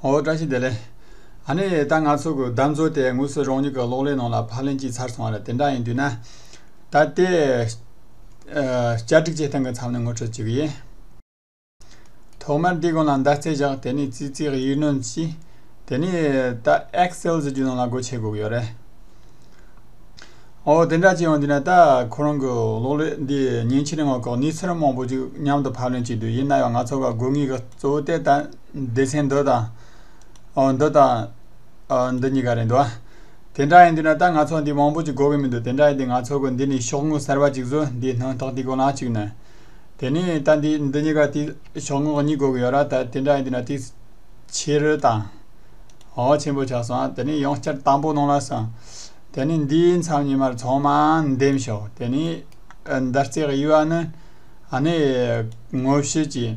ཨོ་བཀྲ་ཤིས་བདེ་ལེགས། ཨ་ནེ། ད་ང་ཚོ་གི་བདག་མཛོད་དེ་དངོས་སུ་རང་ཉིད་ཀྱི་གློག་ཀླད་ནང་ལ་ཕར་ལེན་ཅིག་ཚར་སོང་བ་རེད་དེ་འདྲ་ཡིན་དུས་ན། ད་ལྟའི། བསྐྱར་སྒྲིག་བྱེད་སྟངས་ཀྱི་མཚམས་ནས་ངོ་འཕྲོད་བྱེད་ཀྱི་ཡིན། ཐོག་མར་འདི་གོང་ལ་མདའ་རྩེ་བཞག་དེ་ནས་ཙི་ཙིའི་ཡིག་སྣོན་གྱིས། དེ་ནས་ད Excel ཟེར་གྱི་ནང་ལ་སྒོ་ཕྱེ་དགོས་ཀྱི་ཡོད་རེད། ཨོ་དེ་འདྲ་ཅིག་ཡང་དུས་ན་ད་ཁོ་རང་གི་གློག་ཀླད་འདི་ཉིན་ཕྱེད་རིང་ངོ་ལྐོག་ནས་ཚུར་མང་པོ་ཅིག་མཉམ་དུ་ཕར་ལེན་བྱས་དུས་ཡིན་ན་ཡང་ང་ཚོ་ལ་དགོས་ངེས་ཀྱི་གཙོ་བོ་དེ་ད། སྡེ་ཚན་མདོ་དང། མདོ་དང། མདོ་གཉིས་ཀ་རེད་འདུག་དེ་འདྲ་ཡིན་དུས་ན་ད་ང་ཚོ་འདི་མང་པོ་ཅིག་གོ་གི་མི་འདུག་དེ་འདྲ་ཡིན་དུས་ང་ཚོ་གི་འདི་ནི་ཤོག་ངོས་གསར་པ་ཅིག་བཟོ་འདིའི་སྣང་ཐོག་ཏིག་གོ་ལག་ཅིག་ནས། དེ་ནས་ད་འདི་འདི་གཉིས་ཀ་ཏིག་ཤོག་ངོས་གཉིས་གོ་གི་ཡོད་ར་ད་དེ་འདྲ་ཡིན་དུས་ན་ཏིག། ཕྱི་རོལ་དང། འོག་ཆེན་པོ་ཆགས་སོང་དེ་ནས་ཡང་བསྐྱར་དང་པོ་གནང་ལ་སོང། དེ་ནས་འདིའི་མཚམས་ཉི་མར་ཚང་མ་འདེམས་ཤོག་དེ་ནས། འདར་རྩེ་གཡུ་བ་ནི། ཨ་ནི། ངོ་བཤུས་ཀྱི།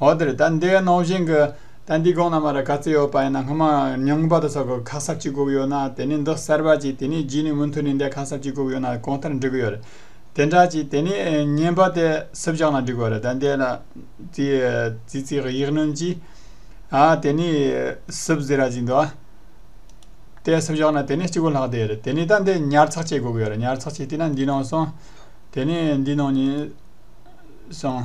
འོ་དེར་ད་འདི་ག་ནོར་བཞིན་གི། ད་འདི་གོང་ན་མ་ར་ག་ཚོད་ཡོད་པ་ཡིན་ན་སྔོན་མ་ཉུང་པ་དོ་སོགས་ཀྱི་ཁ་གསབ་ཅིག་དགོས་ཡོད་ན་དེ་ནས་འདི་གསར་པ་ཅིག་དེ་ནས་རྗེས་ནས་མུ་མཐུད་ནས་འདི་ཁ་གསབ་ཅིག་དགོས་ཡོད་ན་གོང་ལྟར་འབྲི་གི་ཡོད་རེད། དེ་འདྲ་ཅིག་དེ་ནས་བརྙན་པར་དེ་སུབ་བཞག་ན་འགྲིག་གི་རེད་ད་འདི་ལ། ཙི་ཙི་ཙི་ཡིག་སྣོན་གྱིས། ཨ་དེ་ནས་སུབ་ཟེར་ར་ཅིག་འདུག་ཨ། དེ་སུབ་བཞག་ན་དེ་ནས་སྤྱི་བོ་ལྷག་བསྡད་རེད་དེ་ནས་ད་འདི་ཉར་ཚགས་ཅིག་དགོས་གི་ཡོད་རེད་ཉར་ཚགས་ཅིག་བལྟས་ན་འདི་ནང་སོང། དེ་ནས་འདི་ནང་ནས། སོང།